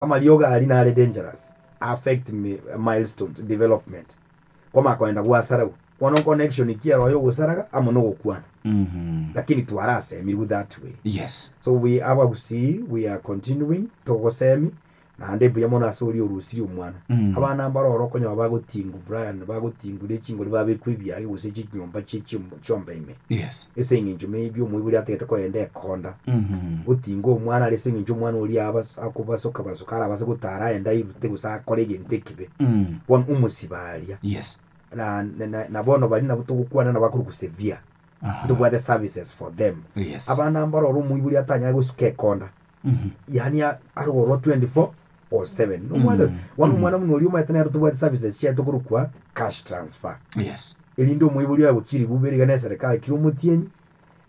Amariogo aria nare dangerous, a affect milestones development, kwamanya koenda gwasarau, bono connection ki eroyo ogosaraga amo nogokwana, lakini twarasemirwe that way. Yes. So we abagusii we are continuing togosemi naende mbuya mono ase oria orusirie omwana. Abana mbare oro okonyora bagotingu Brian bagotingu nechingori babekwa ebiage gose chinyomba chie chiomba ime. Yes. Ase engencho maybe omoibori atagete kogenda ekonda, otinga omwana aria ase engencho omwana oria abas- akobasoka basoka arabase gotara aende airute gose akore egento ekibe. Bono omosiba aria, Yes. na- na- na- na bono baria nabo togokwana nabo akorokwa severe, Aha. ntobwate services for them. Yes. Abana mbaroro omoibori atanyare gosuka ekonda, yaani a- arogorwa 24 or 7 nomwete Mm. wano omwana muno oria omanyete nero tobwate services chia tokorokwa cash transfer yes erinde omoibori oye gochirigwa bere iga neserikali kira omotienyi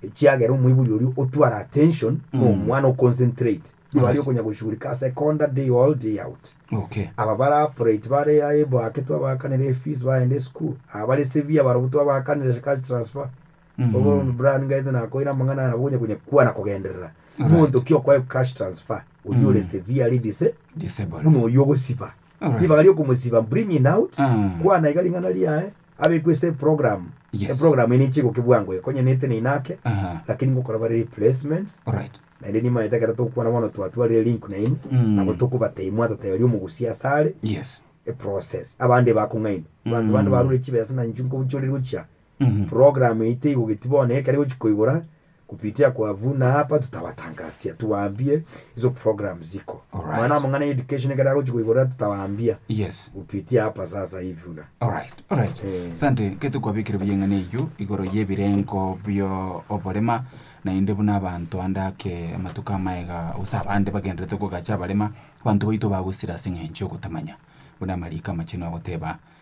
echiagera omoibori oria otwara attention Mm. na omwana oconcentrate igo Alright. aria okonya goshugurika ase ekonda day all day out okay aba bara operate bare aye bwake twabakanera efees bagenda esukuru aba bare severe barobwo twabakanera cash transfer Obobe mu Browni ngaete nakoire amang'ana aya nabo gonya konya kwa na kogenderera. Alright. Monto ki okoe cash transfer oyio ore severely dise Disable. buna oyio ogosiba. Alright. Ribaga riokomosiba bring in out Mm. kwa na iga ring'ana riaye abekwe ase eprogramu. Yes. Eprogramu eye neche igoke bwango iga konya nete neina ake Aha. lakini ngokora bare replacements Alright. naende nimaete ekero togokwana bono twatwarire link nainwe Mm. nabo tokobatebia mwatoteberia omogusia ase are Yes. eprocess abande bakong'aini abanto bande Mm. barure chibesa na inchuko nchorire gochia Program yaito igogeti bono ekero igochia koigora kupitia kwa Vuna hapa tutawatangasia tuwaambie hizo programs ziko Alright. mwana wa mang'ana ya education ekero agochia koigora tutawaambia Yes. kupitia hapa sasa hivi Vuna Alright, alright. Eh. Asante, nkete kwabekire buya eng'ana eyio igoro y'ebirengo bio oborema, naende buna abanto ande ake amatuko amaega gose abande bagendererete kogacha abarema, abanto baito bagosira ase eng'encho y'ogotamanya, buna amariko amachenu agoteba.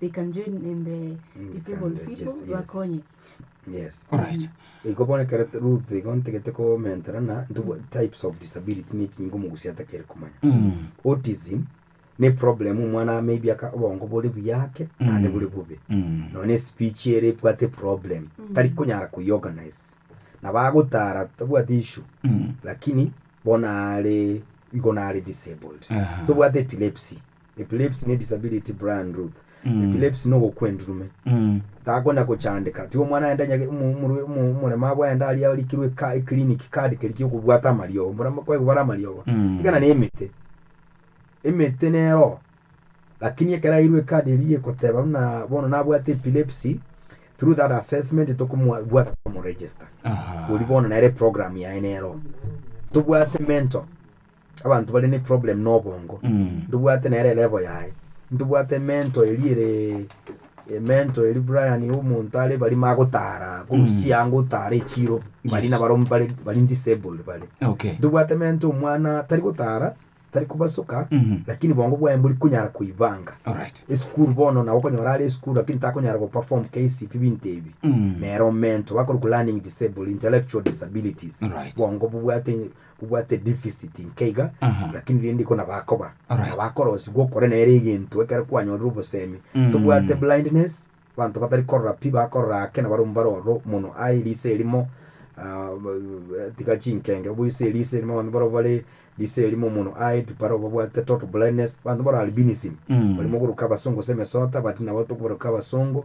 They can join in the disabled Yes, people yes. bakonye. Yes. Alright. Igo bono ekero t- Ruth igo ntegete komentera na ntubo types of disability ne ekingo omogusi atakere komanya. Mm. Autism ne problem omwana maybe aka obongo bore buya ake ande bore bobe. Mm. None speech ere ebwate problem. Tari konyara koiorganize. Na bagotara tabwate issue. Mm. Lakini bono are igo nare disabled. Aha. Tobwate epilepsy. Epilepsy ne disability Brian Ruth Epilepsy nogokwa endurume takona gochandeka tiga omwana aende onye omoremabu aende aria arikirwe eclinic card keria kiokobwata amariogo omoremabu kwegobara amariogo tiga na emete emete nero lakini ekero airwe ecard eria egoteba buna bono nabwate epilepsy through that assessment tokomobwata tokomoregister oria bono nere eprogram yaye nero tobwate mental. Abanto bare ne problem na obongo. Ntobwate nere level yaye. Ntobwate emento eria ere emento eria Brian ya omonto are barimo agotara korusia chianga otara echiro bari Yes. nabaro mbare bari disabled bare. Okay. Ntobwate emento omwana tari gotara tari kobasoka Mhm. lakini bongo bwaye mbori konyara koibanga. Alright. Esukuru bono nabo okonyora are esukuru lakini takonyara go perform KCP binto ebi. Mm. Nere omento bakorwa ku learning disabled intellectual disabilities. Alright. Bongo bobwate Kobwate edificit inke iga, Aha. lakini rende iko nabakoba, Alright. nabakorosigwa okore nere egento ekero kwanyorire obosemi. Mm. Tobwate blindness, banto batari korora pi bakorora ake nabare omo bare ororo mono. Aye eriso erimo ah, b- tiga chinkenge, oboiso eriso erimo abanto barabwo bare riso erimo mono. Aye pi barabwo babwate total blindness, abanto bare albinism, Mm. barimo goroka abasongo gose emesota, but nabo tokobaroka abasongo.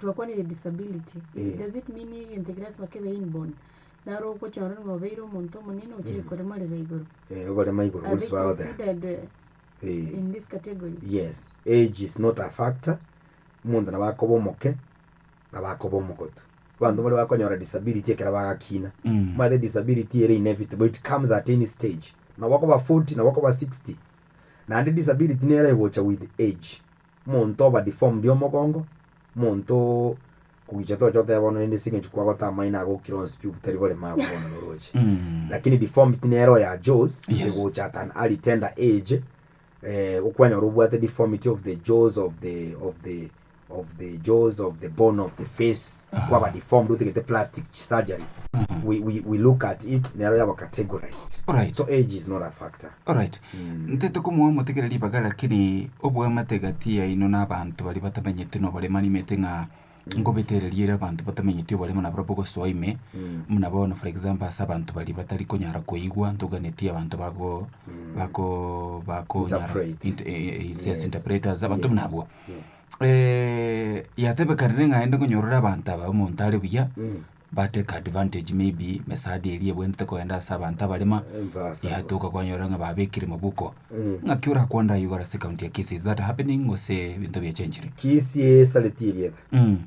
Twakwanire disability, does it mean egento ekeraswa kebe inborn? Naro ogochora ng'a obeire omonto omonene ochire koremorera igoro? Eh, okorema igoro Are they boris bagotea. considered uh, Eh. in this category? Yes, age is not a factor, omonto nabo akoba omoke, nabo akoba omogotu. Abanto baria bakonyora disability ekero bagakina, omanyete disability ere inevitable, it comes at any stage. Nabo okoba 40, nabo okoba 60. Naende disability nero egocha with age. Monto oba deformed omogongo, monto kogicha tocha oteba bono rende ase eng'encho kwagota amaino agokire onsi pi obutari borema abwo bono noroche. Lakini deformity nere oyo a jaws Yes. egocha at an early tender age eh, okwanyora obwate deformity of the jaws of the of the of the jaws of the bone of the face kwaba deformed otagete plastic surgery we, we, we look at it nero yaba categorized Alright. so age is not a factor Alright. Ntete komoa motegere ribaga lakini obwamate gati yaino na abanto baria batamenyeti nobore manimete ng'a ngobetererie ere abanto batamenyeti obore buna barabwo gosoa ime buna bono for example ase abanto baria batari konyara koigwa ntoganeti abanto bago bako bakonyara Interpret. int- eh, eh, yes, Yes. interpreters abanto Yeah. buna abwo Yeah. Eh, yatebekanire ng'a aende konyorore abanto aba omonto are buya Mm. Ba take advantage maybe mesadi eria ebwenerete kogenda ase abanto abarema yatoka kwanyora ng'a babekire mobuko ng'aki orakwanda aye igoro ase county ya Kisii is that happening gose ebinto biachenchire? Kisii esareti erieta Mm.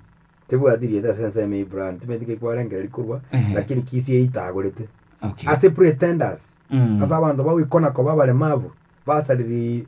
tebwati rieta ase ensemo ya brand timaeti ki kwarengera rikorwa Ehe. lakini Kisii eitagorete Okay. ase pretenders Mm. ase abanto bagoikona koba abaremavu basariri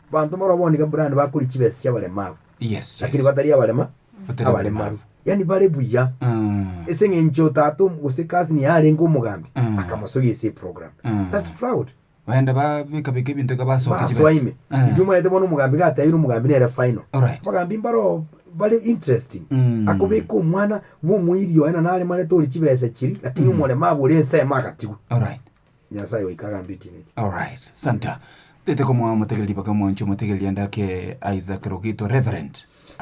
Banto barobwo nigo buna bakori chibesa chi'abaremabu, Yes, lakini yes. batari abarema, Batari abaremabu. abaremabu. Yaani bare buya. Mm. Ase eng'encho tata om- gose cousin yaye arenge omogambi, Mm. akamosogia ase eprogram. Mm. That's fraud. Baenda babekabeka ebinto iga basokia chibesa. Basoime. Eh. Riria omanyete bono omogambi iga atebire omogambi nere final. Alright. Abagambi mbaro bare interesting. Mm. Akobeka omwana bwa omoiri oye na naremarete ore chibesa chiri, lakini Mm. omoremabu ore ensemo agatigwa. Alright. Nyasae goika agambe ekiina eke. Alright, Santa. Tete komoa omotegereri baka mwancho omotegereri ande ake Isaac Rogito, Reverend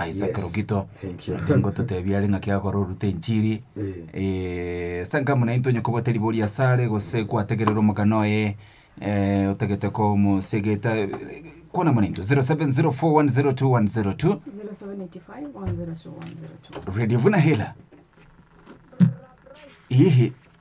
Isaac Yes. Rogito. Thank you. Onde ngototebia are ng'aki agakora orute enchiri. Eh. Eh, ase enka buna intwe onye kobwate ribori asare gose kwategerera omogano oye eh, otagete komosegeta kwana muna intwe 0704102102 0785 102 102. Radio Vuna Hela. Ihi.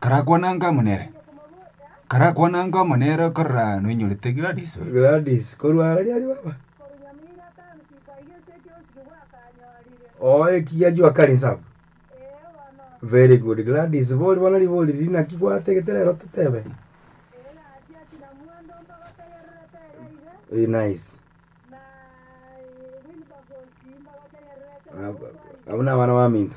Karakwanange amo nere. Karakwanange amo nere korora noinyorete Gladys oyo. Gladys, korwa ara riari baba? Oo ekiya juu akari inse abwo. Very good. Gladys, bori bono ribori riria naki gwatagete rero totebe? Eh, nice. Ab- Abwo nabana baminto.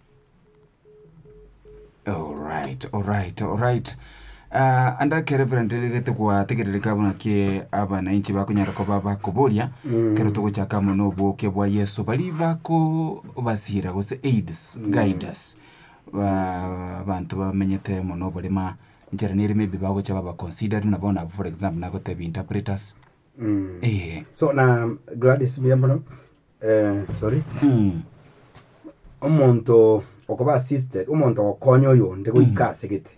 Alright, alright, alright. Ah, and ake Reverend rigete gwategerereka buna ke abananchi bakonyara koba bakoboria kero togochaka mono oboke bwa Yesu bari bako basira gose aids guiders ba bantu bamenyete mono oborema nchera nere maybe bagocha baba considered na bona for example nagotebi interpreters Mm. eh So na Gladys buya mono Omonto okoba assisted, omonto ogokonya oyonde goika ase egete,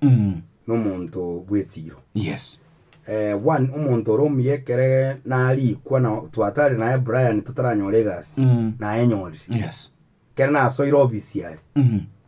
nomonto bw'esiiro. Yes. One, omonto ore omuya ekere narikwa na twatare naye Brian totaranyora egasi, nayenyorire. Yes. Ekero nasoire obisiari,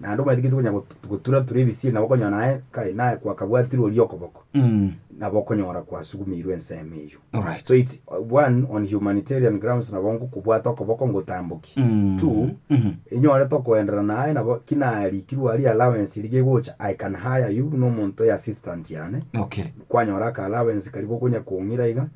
Naende omwetigiti konya got- gotura-tura ebisiri nabo okonyora naye kai naye kwakabwatirwe oria okoboko, Mm. nabo okonyora kwasugumeirwe ensemo eyio. Alright. So it's uh, one, on humanitarian grounds nabo ngokobwata okoboko ngotambokie. Mm. Two, Mhm. inyorete okoenderana naye nabo ki narikirwe aria allowance eria gegocha, I can hire you buna omonto oye assistant yane, Okay. kwanyora aka allowance karia gokonya kong'ira iga,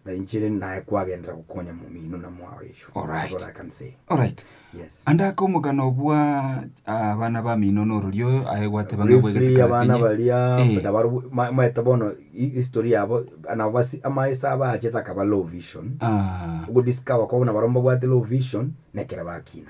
Na inche rende naye kwagenderera gokonya momino na mwao Yeshua. All That's right. all I can say. Alright. Yes. Ande ake omogano obwa ah, abana bamino norori oyo aye gwateba ng'a bwegete Briefly, abana karasinye. baria Eh. nabaru- ma- maete bono hi- history yabo nabo basi amaesa abo aachete akaba low vision Ah, ogodiscover kwabo nabaro mbabwate low vision nekere bakina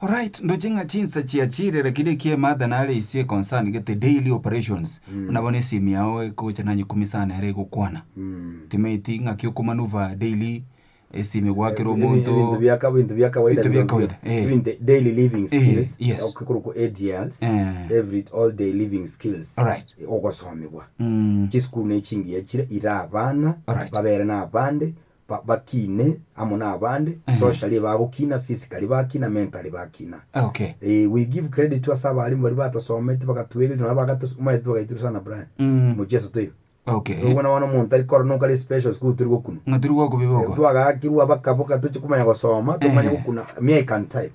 Alright, ndoche ng'a chinsa chiachire lakini ekie Martha nare ise e concern gete daily operations, buna bono esimu yao ekogocha nanye kumi sana ere egokwana. Timanyeti ng'aki okomanuva daily esimu egoakera Ebi- omonto. ebinto bia ka- ebinto bia kawaida Ebinto bia bino kawaida, bia- eh. ebinto daily living Eh, skills yes. okorokwa ADLs Eh. every all day living skills Alright. ogosomigwa Mm. chisukuru ne chingiya chire ire abana Alright. babere na abande Bakine amo nabande, socially bagokina, physically bakina, mentally bakina. Eeh, we give credit to ase abalimu baria batasometi bagatuegereri nonye bagate omaete bagaitiru sana Brian, mocheso toiyo. Rirorio buna bono omonto tari korora nokare special school tori gokuna. Ng'a tori gokobeba okwo. Twagaakirwe abakaboka tochi komanya gosoma, tomanye gokuna, me I can type.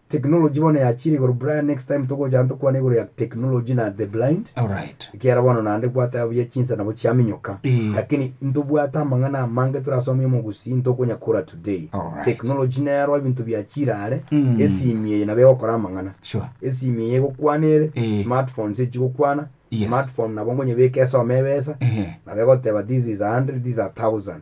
Technology bono yachiire igoro Brian next time togocha tokwane igoro ya technology na the blind Alright. ekiagera bono naende gwateba buya chinsa nabo chiaminyoka Eh. lakini ntobwate amang'ana amange torasomie omogusii ntokonya kora today Alright. technology neroo ebinto biachiire are Mm. esimi eye nabo egokora amang'ana Sure. esimi eye egokwana ere Eh. smartphones echigokwana Yes. smartphone nabo nkonye beka esome ebesa Ehe. nabo egoteba this is a hundred this is a thousand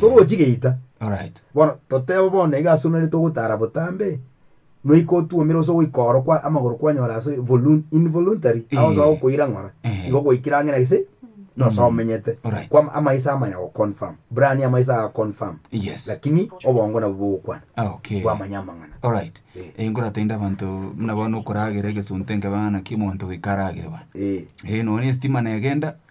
Torochi geita. Alright. Bono totebe bono iga ase onarete ogotara botambe, noika otuomire gose ogoika oro kwa amagoro kwanyora ase volun involuntary ao gose Eh. agokoira ng'ora Eh. igo gwaikire ang'e na gese na gose omenyete Alright. kwa ama- amaiso amanya goconfirm brani amaiso agaconfirm Yes. lakini obongo nabwo bogokwana Ah, okay. bwamanya amang'ana Alright. Eh. Eh, nkoratende abanto buna bono okoragera egesunte nkebaga naki omonto goika aragere bono. Eh. Eh, nonya esitima negenda,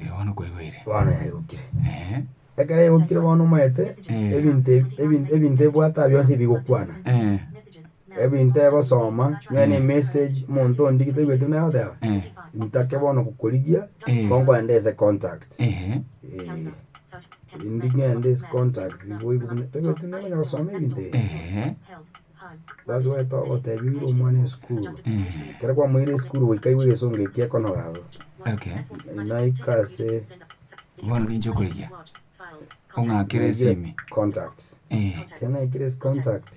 Eh, bono kwaigwire. Bono yaigokire. Eh, Ekero yaigokire bono omaete, Eh. ebinto ebi- ebin- ebinto ebwate aba bionsi bigokwana. eh, Ebinto egosoma, nonya ne message omonto ondigie taigwete buna egoteba, intake bono gokorigia ko nkogenda ase contact. Indi ngende ase contact boigo buna taigwete buna ekonya gosoma ebinto ebi. That's why togotebiire omwana esukuru, ekero kwamoire esukuru goika aigwe egesongo eki ekonoga abwo. Naika ase Bono ninche okorigia. Ong'akere ase ime. contacts. Ekero naikire ase contacts,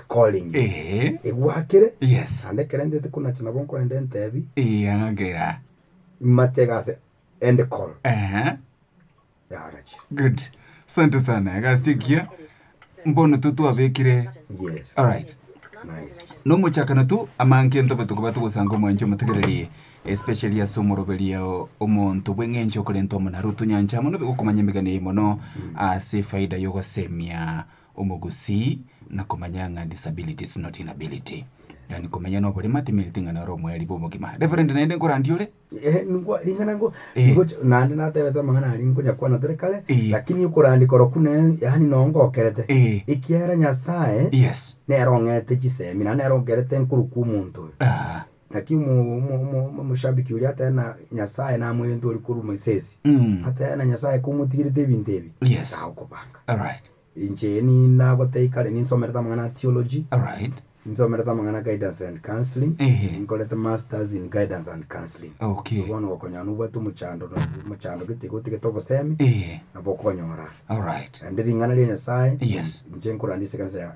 Calling. Ee. Egwakire. Yes. Naende ekero ntete konacha nabo nkorende entebi. Eya ngakera. Matega ase end call. Ehe. Yarachire. Good. Sante sana. Egasi engiya. Mbono to twabekire. Yes. All right. Nice. No mochakano tu amanke ntobe tokoba togosanga omwanche omotegereri especially ase omoroberia omonto bw'eng'encho okorenta omonaro otonyancha mono bigokomanya emegani eye mono ase faida yogosemia Omogusii, na komanya ng'a disability is not inability. Yaani komenya na oborema temereti ng'a nore omoerio bw'obogima. Reverend naende nkorandia ore? Ehe, nigo ring'ana ngo Eh. nigo ch- naende natebete amang'ana aria nkonyakwana tore kare Eh. lakini okorandika oroku ne yaani noo ngokerete Eh. ekiagera nyasae Yes. nere ong'ete chisemi naende nere onkerete nkorokwa omonto oyo Ah. Naki omoshabiki oria atebe na Nyasae namoyente ore korwa Moisesi, Mm. atebe na Nyasae komotigerete ebinto ebi, Yes. tagokobanga. Alright. Inche nindagotei kare ninsomerete amang'ana a theology, Alright. ninsomerete amang'ana a guidance and counseling, Ehe. ninkorete masters in guidance and counseling. Okay. Bono gokonyora nobwate omochando no- omochando gete iga otegete obosemi, Ehe. nabo okonyora. Alright. Naende ring'ana ria Nyasae, Yes. inche nkorandia ase ekanisa ya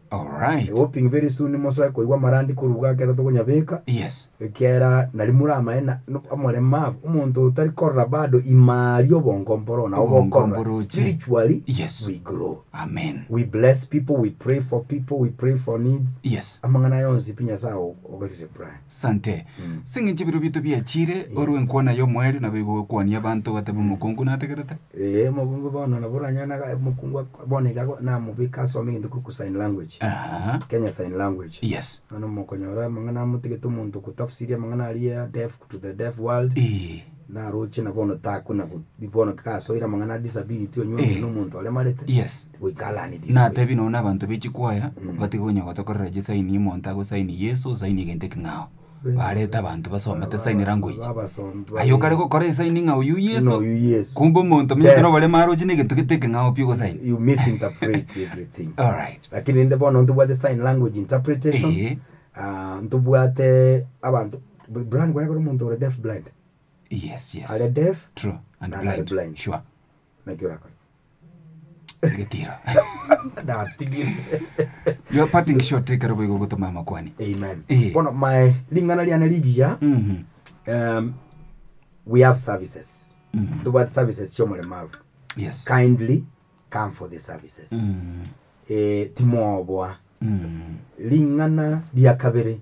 Alright. Ewo ping very soon mosoe koigwa amarandi koruga ekero tokonyabeka, Yes. ekiagera nari more amaene no- amorema abo. Omonto otari korora bado ime aria obongo mboro nabo Obongo bokorora. mboroche. Spiritually Yes. we grow. Amen. We bless people, we pray for people, we pray for needs. Yes. Amang'ana aya onsi pi Nyasae o- ogerire Brian. Sante. Sing'inchi ebiro biaito biachire, orwe enkwana y'omoerio nabo igo gwekwania abanto gatebe omokungu nategerete. Ee, omokungu bono nabo oranyore na aga- omokungu ak- bono iga ago- namobeke asome egento kigokwa sign language. Aha. Kenya sign language. Yes. Bono mokonyora amang'ana amotigete omonto kotafsiria amang'ana aria ya deaf to the deaf world. Ee. Naroche na bono takuna go- bono kasoire amang'ana a disability onywe Eh. na omonto aremarete. Yes. Natebi nonya nabanto be chikwaya batige onya gotokorera chisaini omonto agosaini Yeso osaini egento eking'ao. Bareta abanto basome tesaini rango eye. Aye okare gokora esaini ng'a oyio Yeso, kumbe omonto omonyete noboremo aroche na egento gete ekeng'ao pi ogosaini. Alright. Eeh. Yes, yes. True and blind. Sure. Naki orakore. Egetiro. Natigire. You are parting shot ekero boigo ogotoma amakwani. Amen. Eh. Bono mae ring'ana riane rigiya Mhm. um, we have services. Mhm. Tobwate services chiomoremaru. Yes. Kindly come for the services. Mm. Eh, timoboa. Mm. Ring'ana ria kabere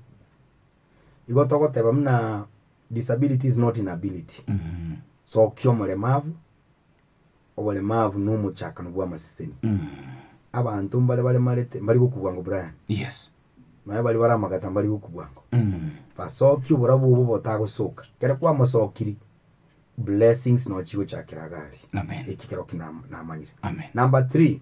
Igo togoteba buna disability is not inability. Sokia omoremabu, oboremabu nomochakano bw'amaseseni. Abanto mbare baremarete mbari gokubua ngo Brian, Yes. nonya bari bare amagata mbari gokubua ngo, basokie oborabu obo botagosoka. Kere kwamosokiri, blessings nochigochakera iga aria. Amen. Eki kerokio nam- namanyire. Amen. Number three,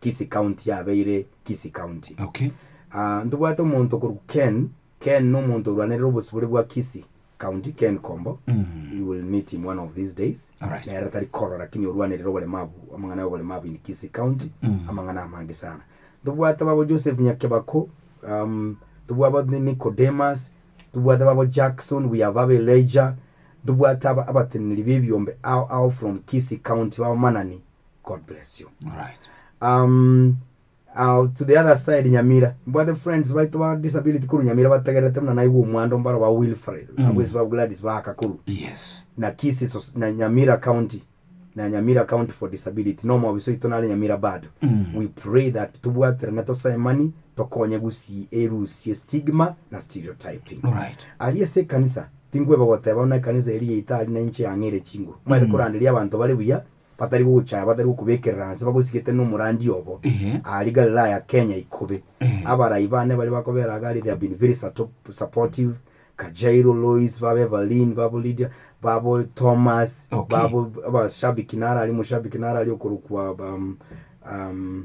Kisii County yabeire Kisii County. Okay. Ah, ntobwate omonto okorwa Ken, Ken nomonto orwanerire obosibore bwa Kisii County, Ken Kombo. You will meet him one of these days. Alright. Nere tari koro lakini orwanerire obolemabu, amang'ana y'obolemabu in Kisii County, amang'ana amange sana. Ntobwate babo Joseph Nyakebako, um, ntobwabo Ni- Nicodemus, ntobwate babo Jackson, we have babo Elijah, ntobwate aba- abateneneri b'ebiombe ao ao from Kisii County, b'abamanani God bless you. Alright. Um, uh, to the other side nyamira mbwate friends baito ba disability kuru nyamira bategerete muna naigwa omwando mbaro ba wilfred Mm. abwesi ba gladys bakakuru Yes. na kisi sos- na nyamira county na nyamira county for disability no mwabiso ito nare nyamira bado Mm. we pray that tubwaterane tosaimani tokonye gusi erusie stigma na stereotyping Alright. aria ase ekanisa tinkweba goteba buna ekanisa eri yaita ari nainche yang'ere chinguru mwaete Mm. koranderia abanto bare buya batari gocha batari gokobekerera anse bagosigete nomorandia obo aria Galilaya Kenya ikobe abarai bane baria bakobera agari they have been very supportive Kajairo Lois babo Evelyn babo Lydia babo Thomas babo abashabiki naro aria omushabiki naro aria okorokwa umm umm.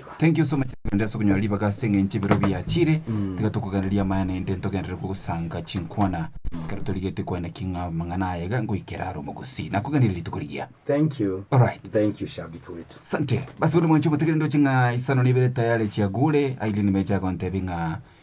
Thank you so much tugende ase okonyora ribaga ase eng'encho ebiro biachire tiga tokoganeria amaya naende ntogenderere kogosanga chinkwana ekero torigete kwana ki ng'a amang'ana aya iga ngoikera are omogosi nakoganeria rituko rigiya Thank you. Alright. Thank you shabiki wetu. Sante. Basi bono mwanche omotegereri ndoche ng'a isano na ibere tayari chiagure, Aileen Meja agontebia ng'a